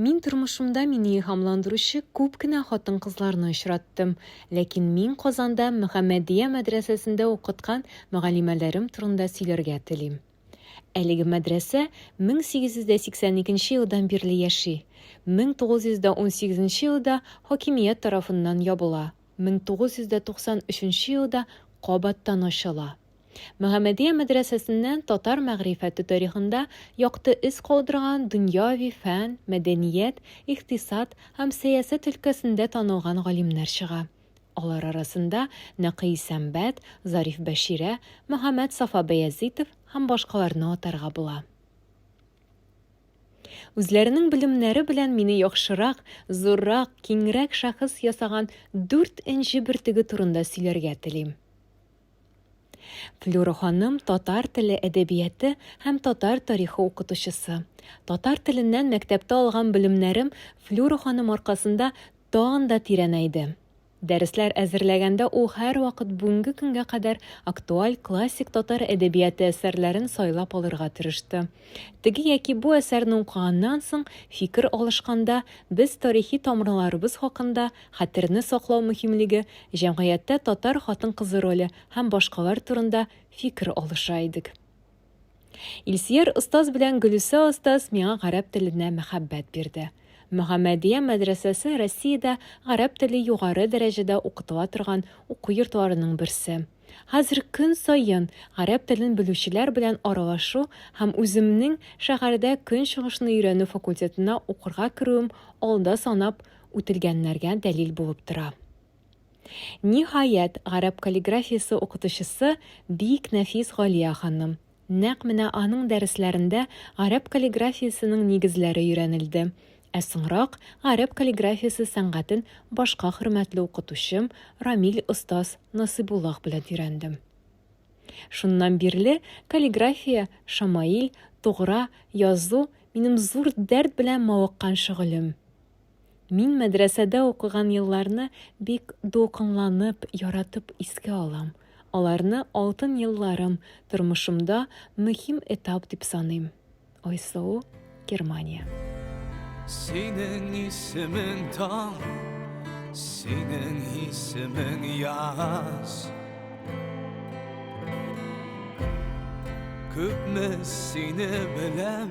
Мин тормышымда мине илһамландыручы күп кенә хатын-кызларны очраттым, ләкин мин Казанда Мөхәммәдия мәдрәсәсендә укыткан мөгаллимәләрем турында сөйләргә телим. Әлеге мәдрәсә 1882 елдан бирле яши. 1918 елда хакимият тарафыннан ябыла, 1993 елда кабаттан ачыла. Мөхәммәдия мәдрәсәсеннән татар мәгърифәте тарихында якты эз калдырган дөньяви, фән, мәдәният, икътисад һәм сәясәт өлкәсендә танылган галимнәр чыга. Алар арасында Нәкый Сәмбәт, Зариф Бәширә, Мөхәммәд Сафа Бәязитов һәм башкаларны атарга була. Үзләренең белемнәре белән мине яхшырак, зуррак, киңрәк шәхес ясаган дүрт энҗе бөртеге турында сөйләргә телим. Флюра ханым татар теле әдәбияты һәм татар тарихы укытучысы. Татар теленнән мәктәптә алган белемнәрем Флюра ханым аркасында тагын да тирәнәйде. Дәресләр әзерләгәндә ул һәрвакыт бүгенге көнгә кадәр актуаль классик татар әдәбияты әсәрләрен сайлап алырга тырышты. Теге яки бу әсәрне укыганнан соң фикер алышканда, без тарихи тамырларыбыз хакында, хәтерне саклау мөһимлеге, җәмгыятьтә татар хатын-кызы роле һәм башкалар турында фикер алыша идек. Илсияр остаз белән Гөлүсә остаз миңа гарәп теленә мәхәббәт бирде. Мөхәммәдия мәдрәсәсе Россиядә гарәп теле югары дәрәҗәдә укытыла торган уку йортларының берсе. Хәзер көн саен гарәп телен белүчеләр белән аралашу һәм үземнең шәһәрдә Көнчыгышны өйрәнү факультетына укырга керүем алда санап үтелгәннәргә дәлил булып тора. Ниһаять, гарәп каллиграфиясе укытучысы, бик нәфис Галия ханым, Нәкъ менә аның дәресләрендә гарәп каллиграфиясенең нигезләре өйрәнелде. Ә соңрак гарәп каллиграфиясе сәнгатен башка хөрмәтле укытучым, Рамил остаз Насыйбуллах белән өйрәндем. Шуннан бирле каллиграфия, шамаил, тугра, язу, минем зур дәрт белән мавыккан шөгылем. Мин мәдрәсәдә укыган елларны бик дулкынланып, яратып искә алам. Аларны алтын елларым, тормышымда мөһим этап дип саныйм. Айсылу, Германия. Синең исемең таң, синең исемең яз. Күпме сине беләм,